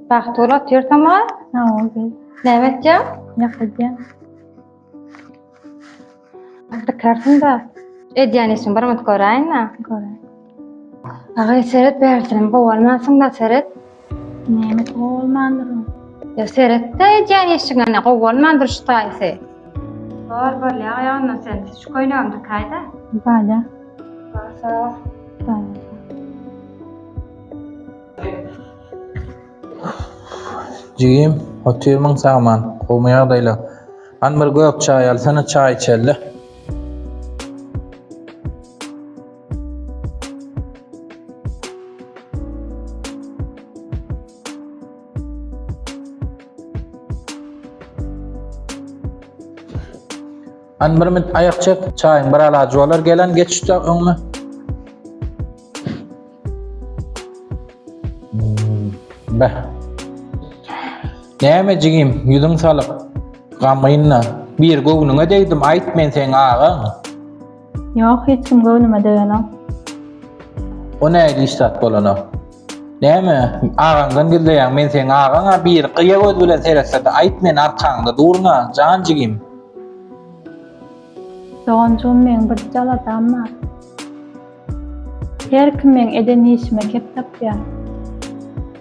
Bahtur otur tamam. Tamam. Näme etýär? Ýakadýar. Artykarsyn da. Edýän işim bir mut göräýin-ä. Göräýin. Aga seret bärsinim gowalmansyň da seret. Näme gowalmandyryn? Ýa seretde edýän işiňe gowalmandyr şu taýsy. Bar bolýa aýagyna sen şu köýnegini dikaýda. Balýa. Bar sag ol. Balýa. Jigim, otyrmyň sagman, gowmy ýagdaýlar? Hany bir gök çaý alsana, çaý içeli. Hani bir mit ayak çek, çayın bir alacı olar gelen geçişte önüne. Hmm, be. Näme jigim, yüzün salyp, gamynyna. Bir göwnüňe degdim, ayt men sen ağa. Ýok, hiç kim göwnüme degenok. O nähili iş zat bolanok? Näme, agaňdan gizleýäň, men seň agaň-a, biri gyýa göz bilen seretse-de, aýt men arkaňda durun-a, jan jigim. Doganjygym, meň birje aladam bar. Her kim meň eden işime kep tapýar.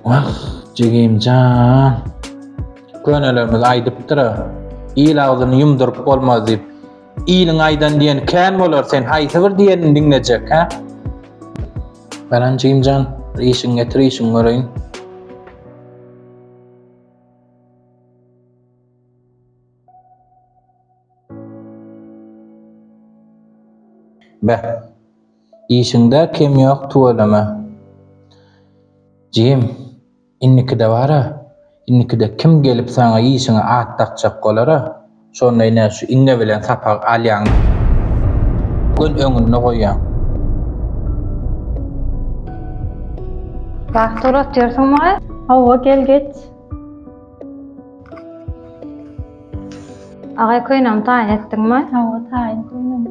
Wah, jigim jan! Könelerimiz aýdypdyr-a, Il agzyny ýumduryp bolmaz diýip. Iliň aýdan diýen kän bolar sen haýsy bir diýenini diňlejek hä? Baran jynjan işiň getir işiň göreýin. Be. Işiňde kem ýok tüweleme. Jim. Indikide bar-a, indikide kim gelip saňa işiňe at dakjak bolar-a, şonda ine şu iňňe bilen sapak alýaň, göz öňünde goýýaň. Wah, sorat ýörsiň maý? Hawa, gel geç. Agaý, köýnämi taýyn etdiňmi? Hawa, taýyn köýnämi.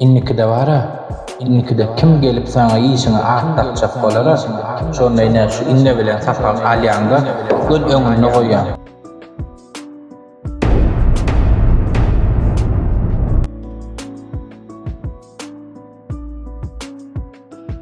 Indikide bar-a, indikide kim gelip saňa işiňi at dakjak bolar-a, şonda ine şu inne bilen sapagy alýaň-da, göz öňünde goýýaň.